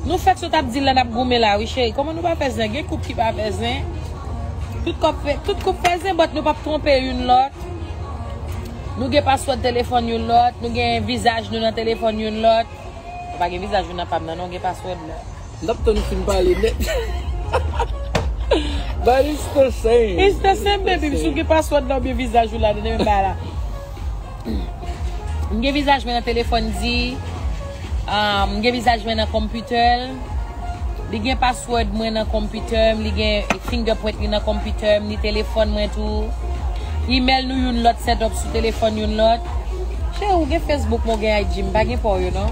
Nou fèk sot ap di la nap goumen la wi cheri Koman nou pa fè zen, gen koup ki pa fè zen Tout koup fè zen but nou pap twonpe youn lòt Nou gen paswòd telefòn youn lòt Nou gen vizaj nou nan telefòn youn lòt Nou pa gen vizaj nou nan pam nan non, gen paswòd la. Nap tann ou fin pale net. But it's the same. It's the same baby. Si w gen password la oubyen vizaj ou la dedan yo bay la. M gen vizaj mwen nan telefòn di. M gen vizaj mwen nan konpitè l. Li gen password mwen nan konpitè m. Li gen fingerprint li nan konpitè m. Ni telefòn mwen tou. Email nou youn lòt setup sou telefòn youn lòt. Cheri w gen Facebook mwen w gen IG. M pa gen pa w yo non.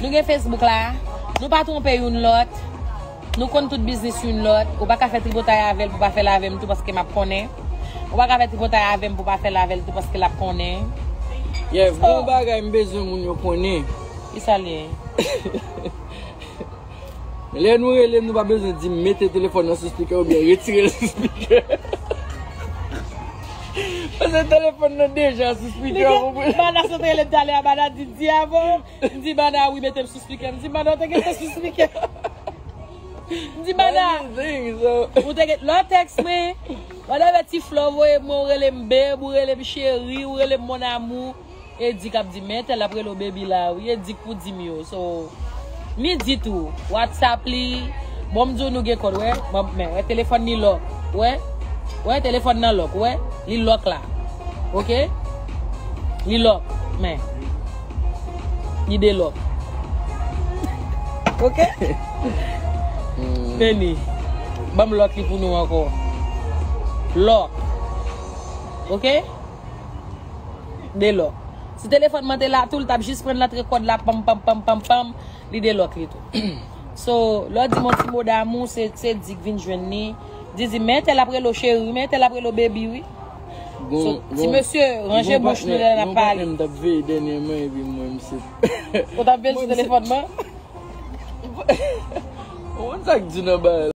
Nou gen Facebook la, nou pa twonpe youn lòt, nou konn tout biznis youn lòt, ou pa ka fè tripotay avè l pou pa fè l avè m tou paske m ap konnen, ou pa ka fè tripotay avè m pou pa fè l avè l tou paske l ap konnen. Yèv, gen yon bagay m bezwen moun yo konnen. Ki sa l ye? Lè nou rele m nou pa bezwen di m mete telefòn nan sou spikè oubyen retire l sou spikè. Paske telefòn nan deja sou spikè. Bana sot rele m talè a, Bana di m, Ti Yavo. Ndibada wi metem sou speaker. Ndibada ou te gen tes sou speaker. Ndibada. Ou te gen lò text me. Wè de ve ti flò voye mwen ou rele m beb ou rele m cheri ou rele m mon amour. E di kap di men tel ap rele ou baby la wi e di k pou dim yo so. Mi di tou WhatsApp li bon m di w nou gen kòd wè banm men wè telefòn ni lòk wè wè telefòn nan lòk wè li lòk la ok li lòk men. Li de lò. Ok. Femi. Banm lòt li pou nou ankò. Lò. Ok. De lò. Si telefon man te la tou, li tap jis pran lantre kòd la pam pam pam pam pam. Li de lòt li tou. So, lò di moun ti mo damou, se di k vin jwenn ni. Di di men tel ap relo cheri, men tel ap relo baby wi. So, ti mesye, ranje bouch nou lè n ap pale. Gon patnè m t ap veye dènyèman epi m wè misye. Ou t ap veye l sou telefòn mwen? Ou konn sa k di nan bagay la?